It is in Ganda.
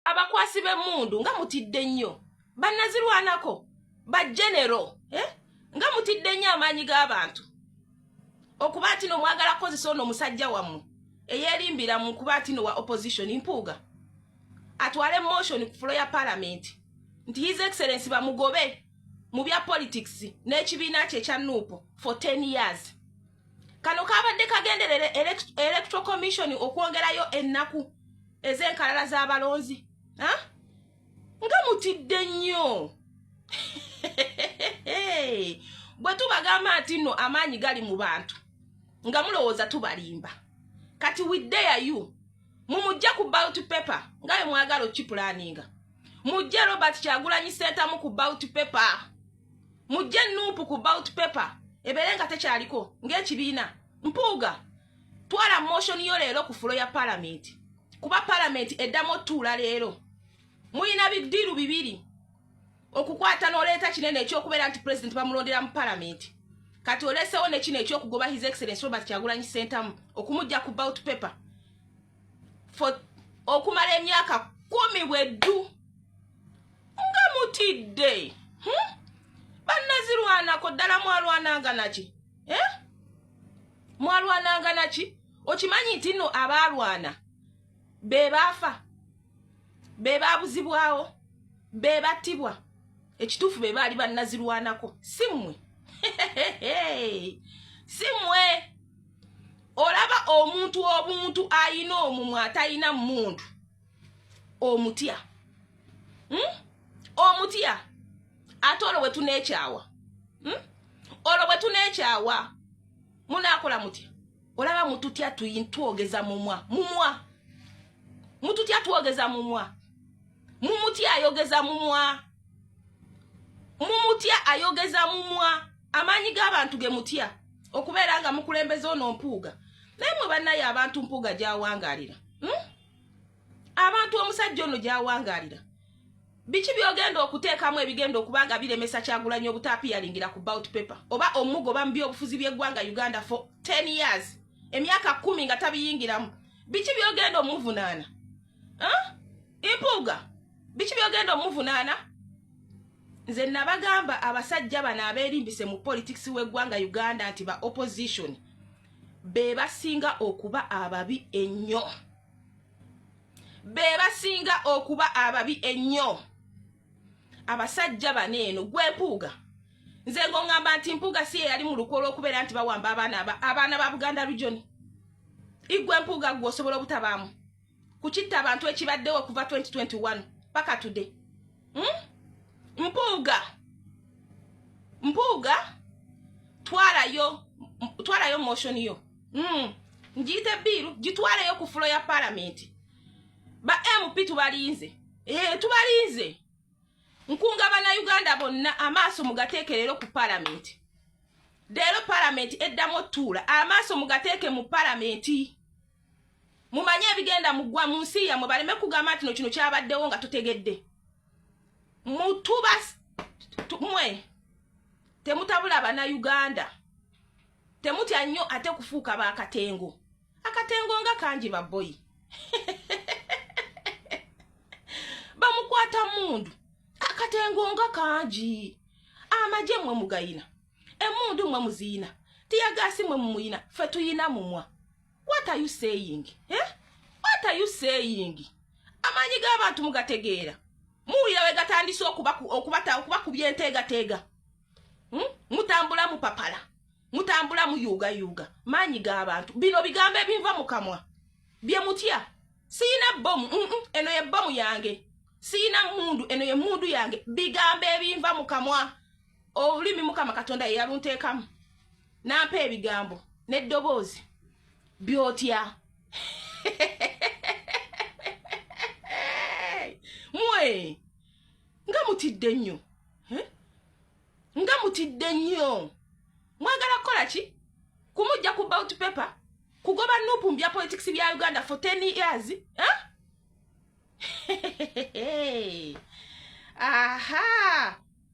abakwasi b'emmundu nga mutidde nnyo bannazirwanako bajenero eh? nga mutidde nnyo amaanyi g'abantu okuba nti no mwagala kukozesa ono omusajja wammwe eyerimbira mu kuba nti no wa opposition mpuuga atwale motion ku fulo ya palamenti nti his excellence bamugobe mu bya politics n'ekibiina kye ekya nuupu for 10 years kano kabadde kagenderera electoral commission okwongerayo ennaku ez'enkalala z'abalonzi nga mutidde nnyo bwe tubagamba nti nno amaanyi gali mu bantu nga mulowooza tubalimba kati widdeya you mumujja ku bout paper nga bwe mwagala okipulaninga mujje robert kyagulanyi sentamu ku bout paper mujje nuupu ku bout paper ebeere nga tekyaliko ng'ekibiina mpuuga twala motion yo leero ku fulo ya palamenti kuba palamenti eddamu otuula leero mulina bidiiru bibiri okukwata n'oleeta kinene ekyokubeera nti pulezidenti bamulondera mu palamenti kati olesewo nekino ekyokugoba his excellence robert kyagulanyi sentamu okumujja ku bout paper okumala emyaka kumi bweddu nga mutidde hmm? bannazirwanako ddala mwalwananga naki eh? mwalwananga naki okimanyi nti no abaalwana be baafa be baabuzibwawo be battibwa ekituufu be baali bannazirwanako si mmwe si mmwe olaba omuntu obuntu ayina omumwa atayina mundu omutya hmm? omutya ate olwo bwetunekyawa hmm? olwo bwetunekyawa munakola mutya olaba mututya twogeza mumwa mumwa mututya twogeza mumwa mumuti ayogeza mumwa mumutya ayogeza mumwa amaanyi g'abantu ge mutya okubeera nga mukulembeza ono mpuuga naye mwe bannaye abantu mpuuga gyawangalira hmm? abantu omusajja ono gyawangalira biki byogenda okuteekamu ebigenda okuba nga biremesa kyagulanyi obutapiyalingira ku bout paper oba omugoba mu byobufuzi byeggwanga uganda for 10 years emyaka kumi nga tabiyingiramu biki byogenda omuvunaana mpuuga biki byogenda omuvunaana nze nabagamba abasajja bano aberimbise mu politics w'eggwanga uganda nti ba opposition be basinga okuba ababi ennyo be basinga okuba ababi ennyo abasajja bano eno gwempuuga nze ngongamba nti mpuuga si eyali mu lukwo olwokubeera nti bawamba abaana abaana ba buganda lujoni igwe mpuuga gwe osobola obutabaamu ku kitta abantu ekibaddewo okuva 2021 paka today hmm? mpuuga mpuuga twalayo twalayo motion yo hmm. ngiyite biiru gitwaleyo ku fulo ya palamenti ba mp tubalinze ee eh, tubalinze nkunga bannayuganda bonna amaaso mugateeke leero ku palamenti leero palamenti eddamu otuula amaaso mugateeke mu palamenti mumanye ebigenda mugwa mu nsi yamwe baleme kugamba nti no kino kyabaddewo nga tutegedde mutuba mwe temutabula bana uganda temutya nnyo ate kufuuka bakatengo akatengo nga kangi baboyi bamukwata mundu akatengo nga kangi amagye mwe mugayina emundu mwe muziyina tiyagasi mwe mumuyina fe tuyina mumwa what are you saying eh? what are you saying amaanyi g'abantu mugategeera muwulira we gatandise okubakubya enteegateega hmm? mutambula mupapala mutambula muyuugayuuga maanyi g'abantu bino bigambo ebinva mu kamwa bye mutya siyina bomu eno ye bomu yange siyina mundu eno ye mundu yange bigambo ebinva mu kamwa olulimi mukama katonda yeyalunteekamu nampa ebigambo n'eddoboozi byotya mwe nga mutidde nnyo eh? nga mutidde nnyo mwagala kukola ki kumujja ku bout paper kugoba nupu mu bya politics bya uganda for ten years eh? aha